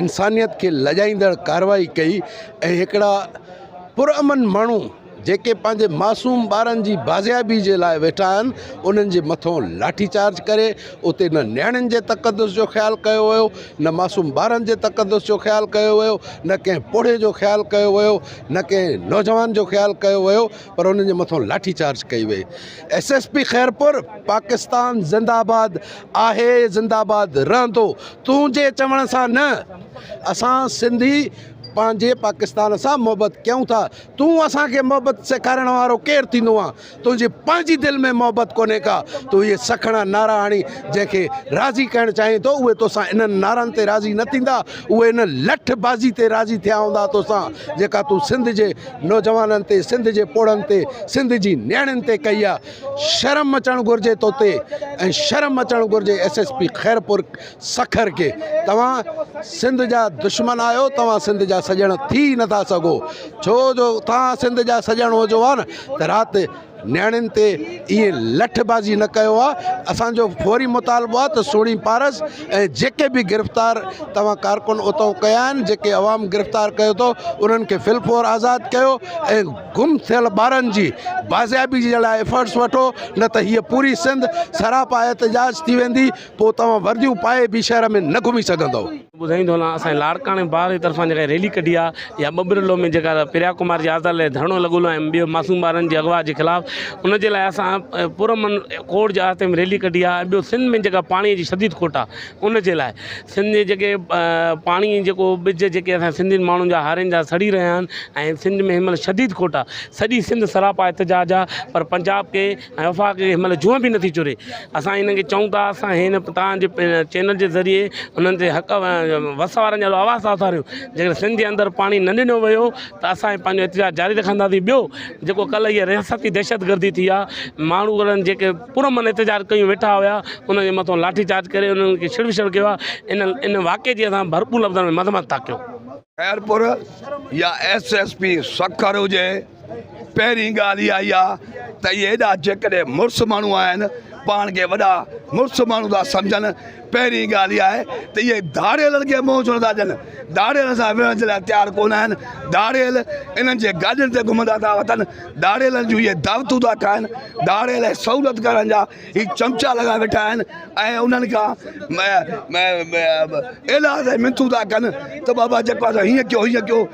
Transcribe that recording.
انسانيت کي لڄائيندڙ ڪارروائي ڪئي ۽ هڪڙا پرامن ماڻهو جيڪي پنهنجي معصوم ٻارن جي بازيابي جي لاء ويٺا آهن انهن جي مٿون لاٺي چارج ڪري اتي نه نياڻين جي تقدس جو خيال ڪيو ويو نه معصوم ٻارن جي تقدس جو خيال ڪيو ويو نه ڪنهن پوڙهي جو خيال ڪيو ويو نه ڪنهن نوجوان جو خيال ڪيو ويو پر انهن جي مٿان لاٺي چارج ڪئي وئي S S P Khairpur Pakistan زنده آباد آهي زنده آباد رهندو تون جي چوڻ سان نه اسان سنڌي پنهنجي پاڪستان سان محبت ڪيون ٿا تون اسان کي محبت سيکارڻ وارو ڪير ٿيندو آ تنهنجي پنهنجي دل ۾ محبت ڪونهي ڪا تون اهي سکڻا نعرا هڻي جنهن کي راضي ڪرڻ چاهين ٿو اهي توسان انهن نعرن تي راضي نه ٿيندا اهي ان لٺ بازي تي راضي ٿيا هوندا توسان جيڪا تون سنڌ جي نوجوانن تي سنڌ جي پوڙهن تي سنڌ جي نياڻين تي ڪئي آ شرم اچڻ گهرجي توتي ۽ شرم اچڻ گهرجي S S P Khairpur Sukkur کي توهان سنڌ جا دشمن آهيو توهان سنڌ جا سڄڻ ٿي نٿا سگهو ڇو جو توهان سنڌ جا سڄڻ هجو ها نه ته رات نياڻين تي ائين لٺ بازي نه ڪيو آ اسان جو فوري مطالبو آ ته سهڻي پارس ۽ جيڪي به گرفتار توهان ڪارڪن اتئون ڪيا آهن جيڪي عوام گرفتار ڪيو ٿو انهن کي في الفور آزاد ڪيو ۽ گم ٿيل ٻارن جي بازيابي جي لاء ايفرٽس وٺو نه ته هيء پوري سنڌ سراپا احتجاج ٿي ويندي پو توهان ورديون پائي به شهر ۾ نه گهمي سگهندئو. ٻڌائين ٿو هلان اسان جي لاڙڪاڻي بار جي طرفان جيڪا ريلي ڪڍي آ يا ٻٻرلو ۾ جيڪا پريا ڪمار جي آزاد لئي ڌرڻو لڳل هو ۽ ٻيو معصوم ٻارن جي اغوا جي خلاف ان جي لاء اسان پر امن ڪورٽ جي آهستي ۾ ريلي ڪڍي آ ٻيو سنڌ ۾ جيڪا پاڻي جي شديد کوٽ آ ان جي لاء سنڌ جي جيڪي پاڻي جيڪو ٻج جيڪي اسان سنڌين ماڻهن جا هارين جا سڙي رهيا آهن ۽ سنڌ ۾ هن مهل شديد کوٽ آ سڄي سنڌ سراپا احتجاج آ پر پنجاب کي ۽ وفاق کي مطلب جونء به نٿي چوري اسان انهن کي چئون ٿا اسان هي نه توهان جي چينل جي ذريعي انهن تي حق وس وارن جا آواز ٿا اٿاريون جيڪڏهن سنڌ جي اندر پاڻي نه ڏنو ويو ته اسان هي پنهنجو احتجاج جاري رکنداسين ٻيو جيڪو ڪلهه هي رياستي دهشت گردي ٿي آهي ماڻهو انهن جيڪي پرامن احتجاج ڪيون ويٺا هيا انهن جي مٿان لاٺي چارج ڪري انهن کي ڇڙ وڇڙ ڪيو آهي ان ان واقعي جي اسان ڀرپور لفظن ۾ مذمت ٿا ڪيون خيرپور يا ايس ايس پي سکر هجي پهرين ڳالهه اها ئي آ ته اهي ايڏا جيڪڏهن مڙس ماڻهو آهن پاڻ کي وڏا مڙس ماڻهو ٿا سمجهن پهرين ڳالهه اها آهي ته اهي ڌاڙيلن کي منهن ڇو نٿا ڏين ڌاڙيلن سان وڙهڻ جي لاء تيار ڪونه آهن ڌاڙيل انهن جي گاڏين تي گهمندا ٿا وتن ڌاڙيلن جون اهي دعوتون ٿا کائن ڌاڙيل سهولت ڪرڻ جا هي چمچا لڳا ويٺا آهن ۽ انهن کان ايلاز ۽ منٿون ٿا ڪن ته بابا جيڪو هيئن ڪيو هيئن ڪيو